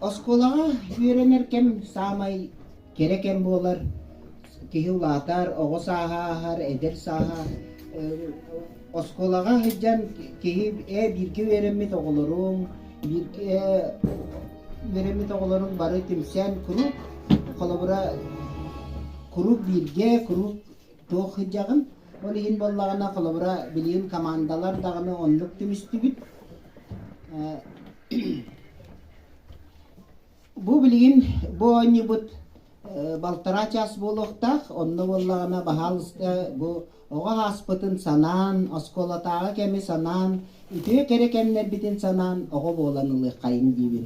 Оскуолаҕа үөрэнэр кэм саамай кэрэ кэм буолар. Киһи улаатар, оҕо сааһа ааһар, эдэр сааһа. Оскуолаҕа сылдьан киһи ээ бииргэ үөрэммит оҕолоруҥ, бииргэ үөрэммит оҕолоруҥ бары түмсэн куруук холобура куруук бииргэ, куруук Туох сылдьаҕын? Ол иһин буоллаҕына, холобура, билигин командалар даҕаны оннук түмүстүбүт. Бу билигин бу оонньуубут балтараа чаас буолуохтаах. Онно буоллаҕына баһаалыста бу оҕо ааспытын санаан, оскуолатааҕы кэми санаан, үтүө кэрэ кэмнэрбитин санаан оҕо буолан ылыаххайын диибин.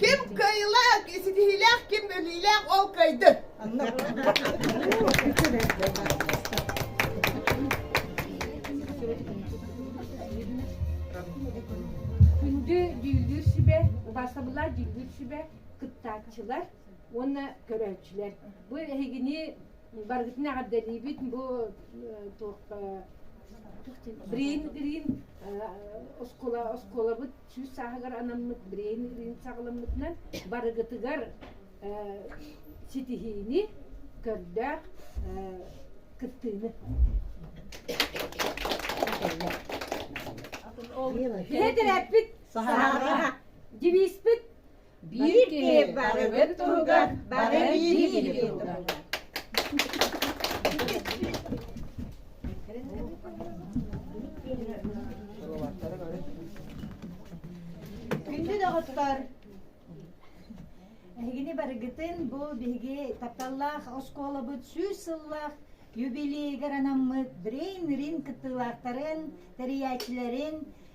Ким кыайыылаах, ситиһиилээх, ким өлүүлээх, ол кыайды. Күндү дьүүллүүр сүбэ, убаасабыллар дьүүллүүр сүбэ кыттааччылар уонна көрөөччүлэр. Бу эһигини барыгытын эҕэрдэлиибит бу туох Грин Грин оскуола оскуолабыт сүүс сааһыгар анаммыт брейн ыырыын саҕаламмытынан барыгытыгар ситиһиини, көрдөөх кыттыыны. Биһи тирэппит, дивиспит Биир киһи барыбыт туһугар бары биир-биири турдар. Күндү доҕоттор, эһигини барыгытын бу биһиги тапталлаах оскуолабыт сүүс сыллаах юбилейыгар анаммыт Brain Ring кыттыылаахтарын, тэрийээччилэрин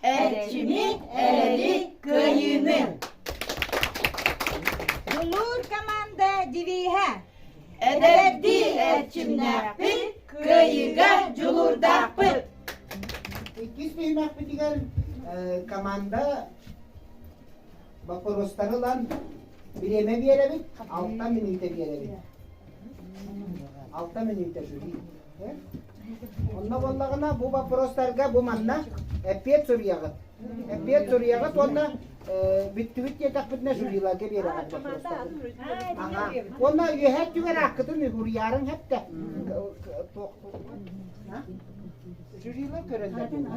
Эрчимик, эрэлик, кыайыыны! Дулуур команда девииһэ! Эдэрдии эрчимнээхпит, кыайыыга дьулуурдаахпыт! Иккис биһимэхпитигэр команда боппуруостары ылан бириэмэ биэрэбит, алта мүнүүтэ биэрэбит. Алта мүнүүтэ жюри. Онно буоллаҕына бу вопростарга бу манна эппиэт суруйаҕыт. Эппиэт суруйаҕыт уонна бүттүбүт диэтэхпитинэ жюриларга биэрэҕит вопростарын. Аха. Уонна үөһэ өттүгэр аккытын уһуруйаарыҥ хэттэ. Жюрилар көрөллөр буолла.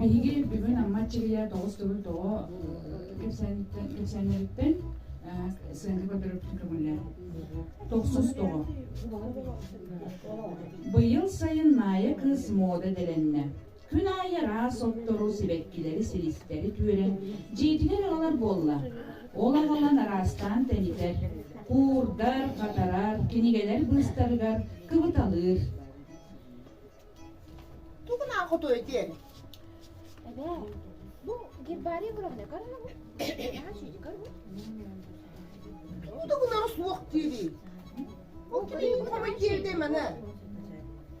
Биһиги бүгүн Амма Чирийэ тоҕус төгүл тоҕо кэпсээннэриттэн сыанга көтөрөптүн көмүллэр. Тохсус тоҕо. Быйыл сайын Наая кыыс мода дэлэннэ. Күн аайы араас оттору, сибэккилэри, силистэри түөрэн, дьиэтигэр аҕалар буолла. Ол аҕалан араастаан тэнитэр, куурдар, хатарар, кинигэлэр быыстарыгар кыбыталыыр. Тугунаан хотуой диэн? Эбээ, бу гербарий огромный карагу. Тугу да гынара суох диирий. Ол киһи купамай тиэрдэ маны.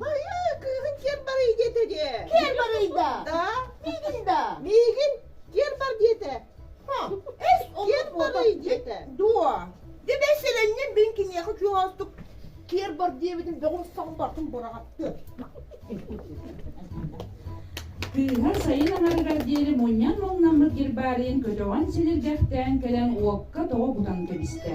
Хайа, кыыһын киэн барый диэтэ диэ. Киэн барый да? Да. Миигин да? Миигин киэн бар диэтэ. Эс киэн барый диэтэ. Дуо? Дэ бэсэлэннин бин киниэхэ күйөөстүк киэр бар диэбитин бөҕүн саҕын бартын бораҕатты. Тыыһа сайын аҥарыгар диэри мунньан муҥнаммыт гербарийын көтөҕөн силиргэхтээн кэлэн уокка тоҕо бутан кэбистэ.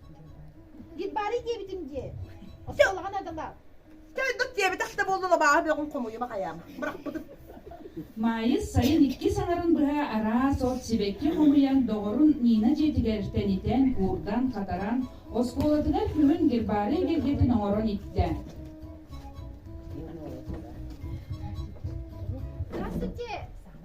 Гит баары диэбитим дии. Осе улахан адалар. Чайдык диэбитэх да буолла лабааһы бөҕүн хомуйума хайаам. Бырахпытым. Маайыс сайын иккис аҥарын быһа араас от сибэкки хомуйан доҕорун Нина дьиэтигэр тэнитэн, куурдан, хатаран, оскуолатыгар күһүн гербары эгэлгэтин оҥорон иттэ. Здравствуйте!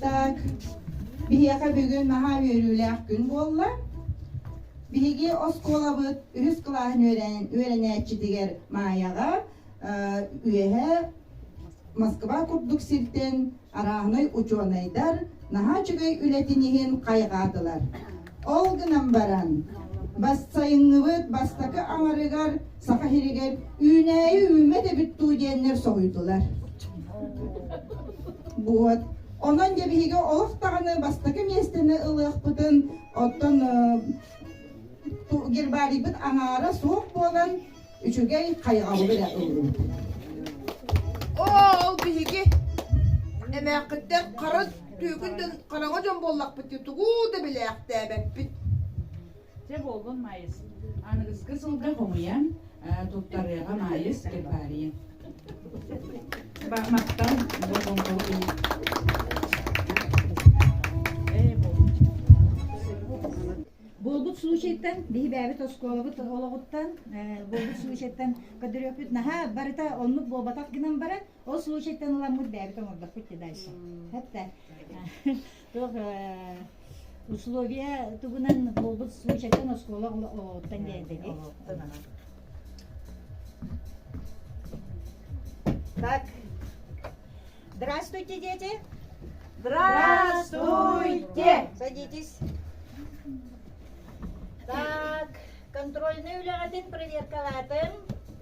Так, биһиэхэ бүгүн наһаа үөрүүлээх күн буолла. Биһиги оскуолабыт үһүс кылааһын үөрэнээччитигэр Маайаҕа үөһэ Москва курдук сиртэн арааһынай учуонайдар наһаа үчүгэй үлэтин иһин хайҕаатылар. Ол гынан баран, бассайынныбыт бастакы аҥарыгар Саха сиригэр үүнээйи үүммэт эбит дуу диэннэр соһуйдулар. Вот. Онон дьэ биһиги олох даҕаны бастакы миэстэни ылыахпытын, оттон гербарийбыт аҥаара суох буолан, Үчүгэй хайҕабы эрэ ыллым. Оо, ол биһиги эмээххиттэн хара түөкүнтэн хараҥа дьон буоллахпыт дии, тугуу да билээхтээбэппит. Дьэ буоллун Майыс, аныгыскы сылга хомуйан туттарыаҕа Майыс Кирпаарыйын. Махтал, болҕомтоҕо киһи. Буолбут случайтан, биһи бэйэбит оскуолабыт олоҕуттан, буолбут случайтан көдөрүөппүт наһаа барыта оннук буолбатах гынан баран, ол случайтан ыламмыт бэйэбит оҥордохпут дальше. Хатта. Туох условия тугунан буолбут случайтан оскуола олоҕуттан диэндиги. Так, Здравствуйте, дети! Здравствуйте! Садитесь. Так, контрольнай үлэҕитин проверкалаатын.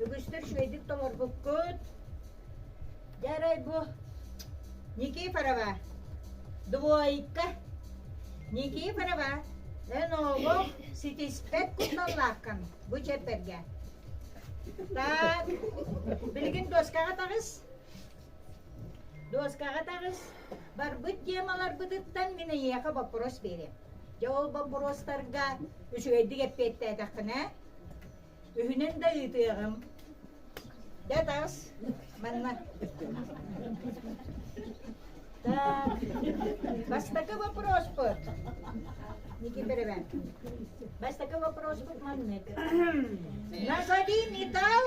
Үгүстүр үчүгэйдик толорбуккут. Дьарай бу Никифорова. Двойка. Никифорова, эн оҕо ситиспэт кутталлаахкын бу чэппэргэ. Так, билигин дуоскаҕа таҕыс. Дуоскаҕа таҕыс, барбыт темаларбытыттан мин эйиэхэ боппуруос биэриэм. Дьэ ол боппуруостарга үчүгэйдик эппиэттээтэххинэ, үһүнэн да ыытыаҕым. Дэ таҕыс, манна. Так, бастакы вопроспут. Никита Ревен. Бастакы вопроспут маннык. Назови металл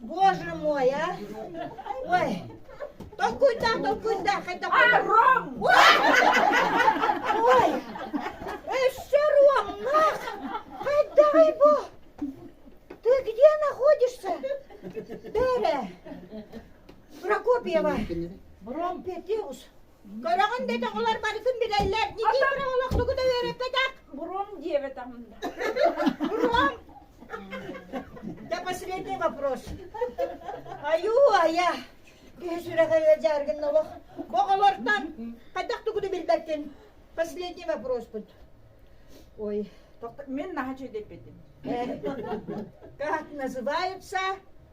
Боже мой, а! Ой, толкуйдан, толкуйдан, хайда Ром! Ой, еще Ром, нах! Хайдай бу! Ты где находишься? Бере! Прокопьева! Бром Петеус! Көрөҕүн да тоҕолор барытын билэллэр. Никифор олох тугу да үөрэппэтэх. Буром диэбэтэҕим да. Буром! Да последний вопрос. Айуу-айа! Киһи сүрэҕэ ыалдьар гын олох. Бу оҕолортон хайдах тугу да билбэккин. Последний вопроспут. Ой, тоқ... Мен на хочу депетим. Как называются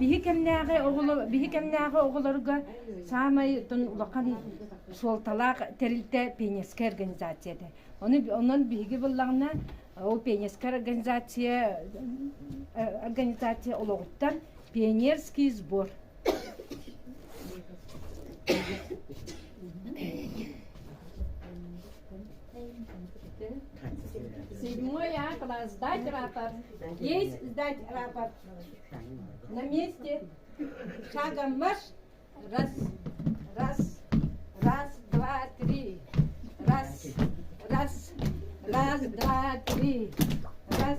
Биһи кэмнээҕи оҕолор биһи кэмнээҕи оҕолорго саамай тон улахан суолталаах тэрилтэ пионерскай организация этэ. Ону онон биһиги быллаҕына ол пионерскай организация организация олоҕуттан пионерский сбор Седьмой А класс. Сдать рапорт. Есть сдать рапорт. На месте шагом марш. Раз, раз, раз, два, три. Раз, раз, раз, два, три. Раз,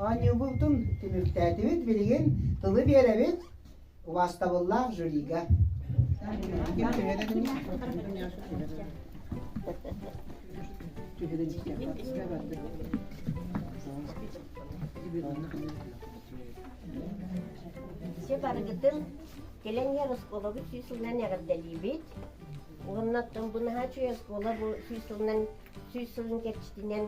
Оонньуубутун түмүктээтибит, билигин тылы биэрэбит убаастабыллаах жюрига. Все барыгытын кэлэҥҥэр оскуолабыт сүүс сылынан эҕэрдэлиибит. Уонна бынаһа оскуола бу сүүс сылынан сүүс сылын кэрчитинэн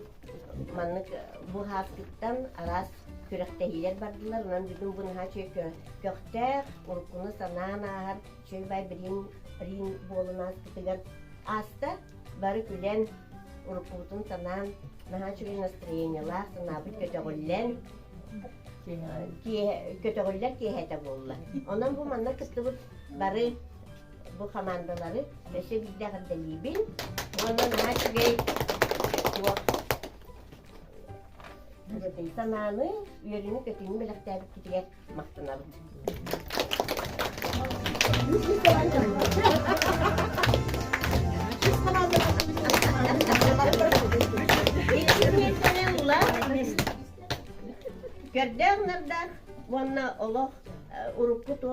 маннык быһаартыктан араас күрэхтэһиилэр бардылар онон бүгүн бу наһаа үчүгэй көхтөөх уруккуну санаан ааһар Чөйбай билин рин буолун ааспытыгар ааста бары күлэн уруккубутун санаан наһаа үчүгэй настроениелаах санаабыт көтөҕүллэн көтөҕүллэр киэһэтэ буолла онон бу манна кыстыбыт бары бу хамаандалары өссө биирдэ эҕэрдэлиибин уонна наһаа үчүгэй туох дьэтэй санааны, үөрүүнү-көтүүнү бэлэхтээбиккитигэр махтанабын. Көрдөөх нарда уонна олох урукку то